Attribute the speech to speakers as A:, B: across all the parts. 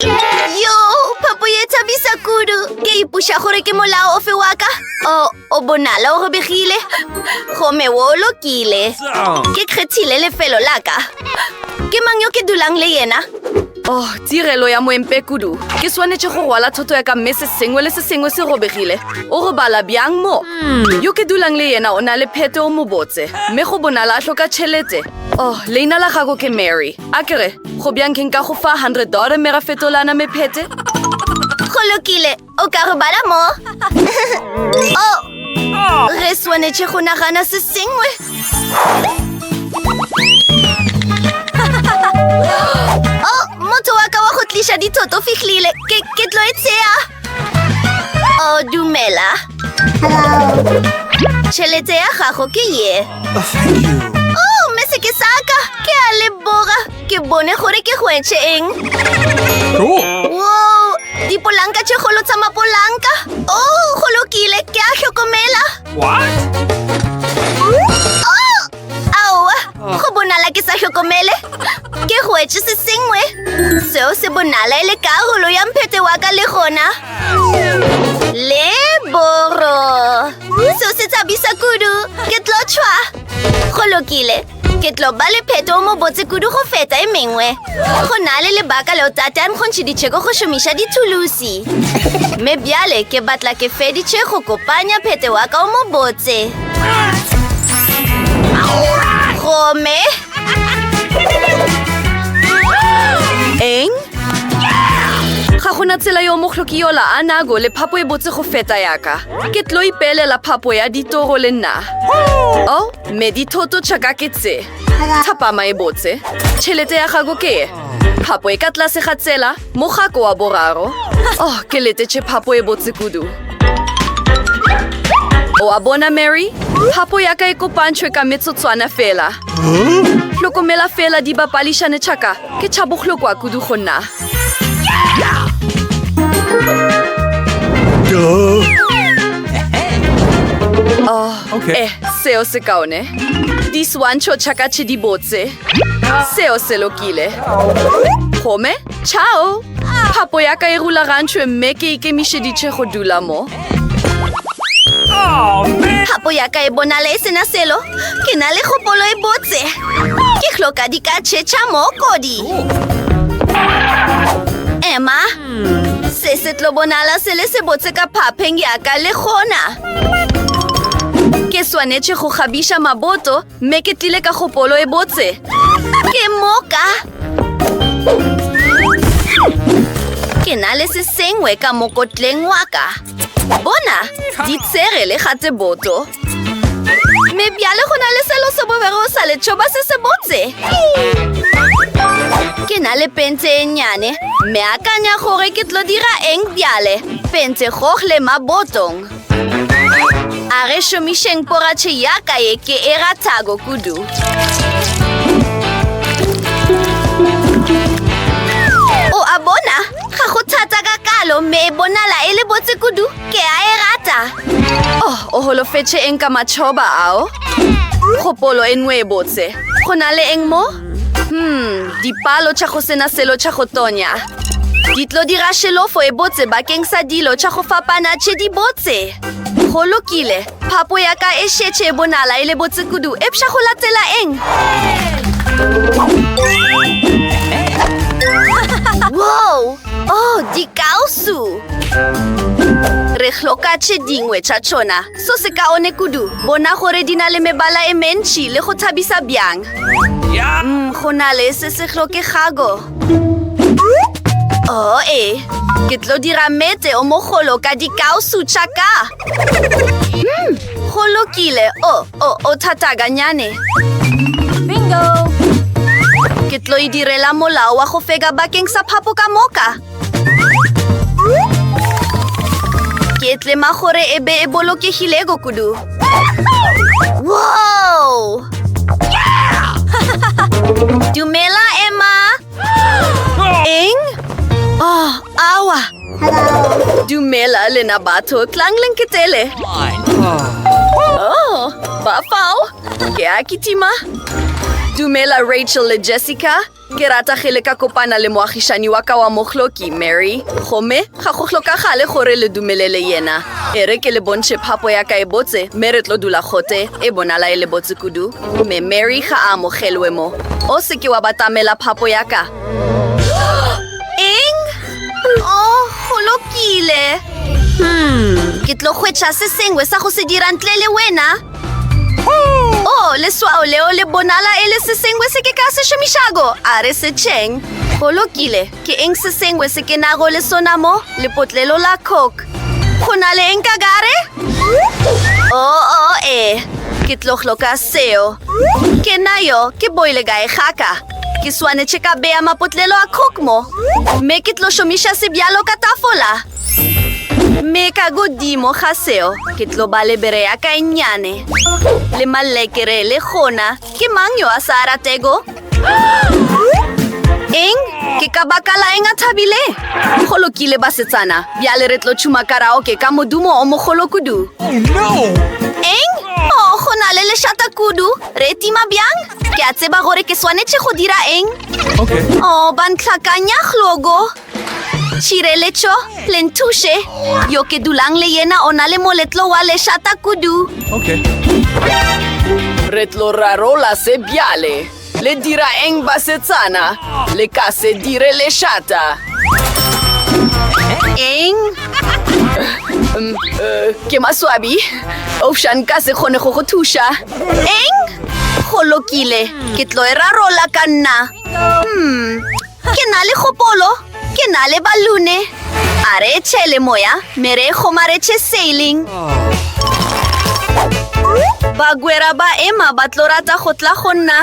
A: Yo, phapo ye thabisa kudu. Ke ipuša gore ke molao ofe wa ka. O, o bonala o robegile. Gome wo o lokile. Ke kgethile lefelo la ka. Ke mang yo ke dulang le yena? Oh, tirelo
B: ya moempe kudu. Ke swanetše go rwala thoto ya ka mme se sengwe le se sengwe se robegile. O robala bjang mo? Yo ke dulang le yena o na le phete o mobotse, mme go bonala a hloka tšhelete. Oh, leina la gago ke Mary. A ke re, Go bjang ke nka go fa 100 dollar mme ra fetolana mephete? Go
A: lokile, o ka robala mo. oh, re swanetše go nagana se sengwe. oh, motho wa ka wa go tliša dithoto fihlile. Ke, ke tlo e tsea. Oh, dumela. Tšhelete ya gago ke ye. Oh, mme se ke saka. Ke a leboga. Ke bone gore ke hwetše eng. Wow, dipolanka tše golo tsa mapolanka. Oh, go lokile. Ke a hlokomela. What? Aowa, go bonala ke sa hlokomele. Ke hwetše se sengwe. Seo se bonala e le karolo ya mphete wa ka le gona. Le boro. Seo se tshabisa kudu. Ke tlo tšhwa. Go lokile. Ke tlo ba le pheto o mobotse kudu go feta e mengwe. Go na le lebaka leo tate a nkgontšheditše go šomiša dithulusi. Mme bjale ke batla ke feditše go kopanya phete wa ka o mobotse. Gomme.
B: Eng? Ga gona tsela yo mohloki yola a nago le phapo e botse go feta yaka. Ke tlo ipeelela phapo ya ditoro le nna. Oh, me dithoto tšaka ke tse. Thapama e botse. Tšhelete ya gago ke e. Phapo e ka tlase ga tsela. Mogako wa boraro. Oh, ke letetše phapo e botse kudu. O a bona, Mary? Phapo ya ka e kopantšhwe ka metsotswana fela. Hlokomela fela di bapališane tšhaka. Ke tšhabohlokwa kudu go nna. Oh, okay. eh, seo se kaone. Diswantšho tšhakatšhe di botse. Seo se lokile. Gomme, ciao! Phapo ya ka e rulagantšhwe mme ke ikemišeditše go dula mo.
A: Phapo ya ka e bonala e sena selo. Ke na le kgopolo e botse. Ke hloka di ka tšhetšha mo kodi. Emma, se se tlo bonala se le se botse ka phapheng ya ka le gona. Ke swanetše go kgabiša maboto Mme ke tlile ka kgopolo e botse. Ke moka! Ke na le se sengwe ka mokotleng wa ka. Bona, di tsere le ga tse boto. Mme bjale go na le selo se bobego o sa letšhoba se se botse. Ke na le pente e nnyane. Mme akanya gore ke tlo dira eng bjale. Pente gogle mabotong. A re šomišeng poratšhe ya ka ye ke e rathago kudu. O a bona, ga go thata ka kalo mme e bonala e le botse kudu, ke a e rata. Oh, o holofetše eng ka matšhoba ao? Kgopolo e nngwe e botse. Go na le eng mo? Hmm, dipalo tša go sena selo tša go tonya. Di tlo dira šelofo e botse bakeng sa dilo tša go fapana tše di botse. Go lokile, phapo ya ka e šetše e bonala e le botse kudu, epša go latela eng? Wow! Oh, dikausu! Re hloka tše dingwe tša tšona. So sekaone kudu, bona gore di na le mebala e mentši le go thabisa bjang. Mm, go na le se se hlokegago. O oh, e, ke tlo dira mete o mogolo ka dikausu tša ka. Mm, go lokile, o, oh, o, oh, o thataganyane. Bingo! Ke tlo e direla molao wa go fega bakeng sa phapo ka moka. ke tlema gore e be e bolokegilego kudu wow dumela emma eng oh awa dumela lena batho tlang le nketele oh ba fao ke a kitima
B: dumela rachel le jessica Ke rata ge le ka kopana le moagišani wa ka wa mohloki, Mary. Gomme ga go hlokagale gore le dumelele yena. E re ke le bontšhe phapo ya ka e botse, mme re tlo dula gote, e bonala e le botse kudu. Mme Mary ga a amogelwe mo. O se ke wa batamela phapo ya ka. Eng?
A: Oh, go lokile. Ke tlo hwetša se sengwe sa go se dira ntle le wena. Oh, leswao leo le bonala e le se sengwe se ke ka se šomišago a re se tšheng go lokile ke eng se sengwe se ke nago le sona mo lepotlelo la coke go na le eng ka gare oo oh, oh, ee ke tloglo ka seo ke nayo ke boile gae gaka ke swanetše ka bea mapotlelo a coke mo mme ke tlo šomiša sebjalo ka tafola Mme ka godimo ga seo, ke tlo ba le bere ya ka e nnyane. Le malekere le gona, ke mang yo a sa a ratego? Eng? Ke ka baka la eng a thabile? Go lokile,
B: basetsana. Bjale re tlo tšhuma karaoke ka modumo o mogolo kudu.
A: Eng? Oh, go na le lešata kudu. Re tima bjang? Ke a tseba gore ke swanetše go dira eng. Oh, ba ntlhakanya, Glogo. Tšhireletšo, le nthuše. Yo ke dulang le yena o na le moletlo wa lešata kudu. Okay.
B: Re tlo rarola se bjale. Le dira eng basetsana? Le ka se dire lešata.
A: Eng? Um, uh,
B: ke maswabi. Ofša nka se kgone go go thuša. Eng?
A: Go lokile. Ke tlo e rarola ka nna. Hmm. Ke na le kgopolo, ke na le balune. A re tšhele moya, me re kgomaretše sailing. Bagwera ba ema ba tlo rata go tla go nna.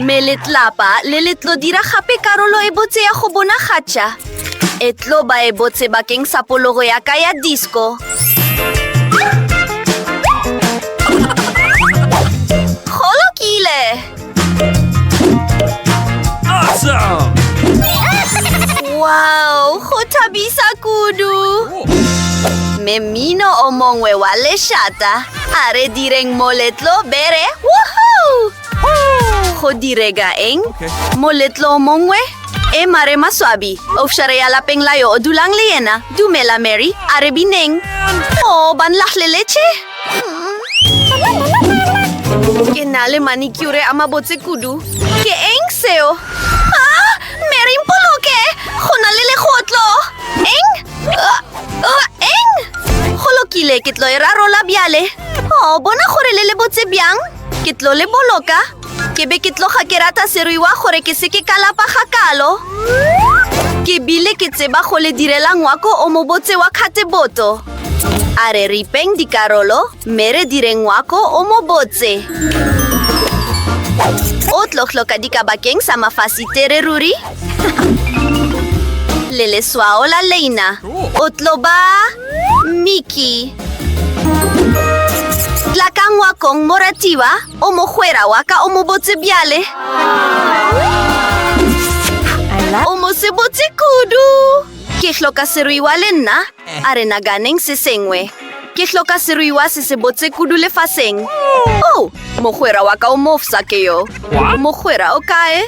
A: Me letlapa le le tlo dira gape karolo e botse ya go bonagatša. E tlo ba e botse bakeng sa pologo ya ka ya disco. Go lokile!
C: Awesome!
A: Wow, go thabisa kudu! Mme mmino o mongwe wa lešata a re direng moletlo bere woohoo! Go direga eng? Moletlo mongwe e eh, mare maswabi ofšare ya lapeng la yo o dulang le yena dumela mary a re bineng o oh, ba nlahleletse ke na le manikure a mabotse kudu ke eng seo ah, mary mpoloke go na le legotlo eng ah, ah, eng go lokile ke tlo e rarola bjale o oh, bona gore le le botse bjang Ke tlo le boloka. Ke be ke tloga ke rata seruiwa gore ke seke ka lapa ga kalo. Ke bile ke tseba go le direla ngwako o mobotse wa kgateboto. A re ripeng dikarolo mme re dire ngwako o mobotse. O tlo hloka dika bakeng sa mafasitere ruri le leswao la leina. O tlo ba Mickey. Tla ka ngwakong, moratiwa, o mogwera wa ka o mobotse bjale. O mosebotse kudu. Ke hloka seruiwa le nna, a re naganeng se sengwe. Ke hloka seruiwa se sebotse kudu lefaseng. Oh, mogwera wa ka o mofsa ke yo. Mogwera o kae?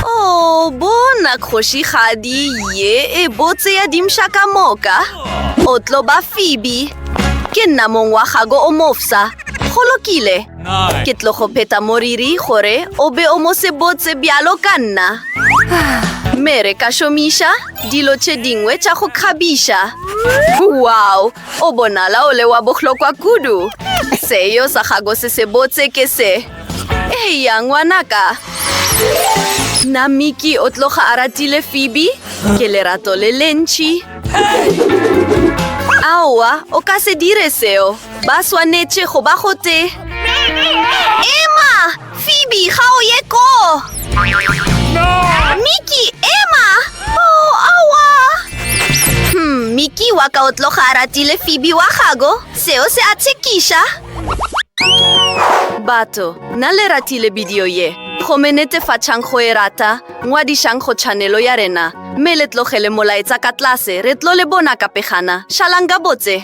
A: Oh, bona kgoši kgadi ye e botse ya dimša ka moka. O tlo ba Phoebe. Ke nna mong wa gago o mofsa. Go lokile. Ke tlo go pheta moriri gore o be o mo sebotse bjalo ka nna. Mere ka šomiša. Dilo tše dingwe tša go kgabiša. Wow! O bonala o le wa bohlokwa kudu. Seo sa gago se se botse ke se. Eya, ngwanaka. Na Mickey o tloga a ratile Phoebe? Ke lerato le lentši. Aowa, o ka se dire seo. Ba swanetše go ba gotee. Emma! Phoebe, ga o ye ko! No! Mickey, ema! Oh, awa! Hmm, Mickey wa ka o tloga a ratile Phoebe wa gago. Seo se a tshekiša. Batho, na le ratile bidio ye? Gome netefatšang go e rata, ngwadišang go tšhanelo ya rena, mme le tlogele molaetsa ka tlase, re tlo le bona ka pegana. Šalang gabotse!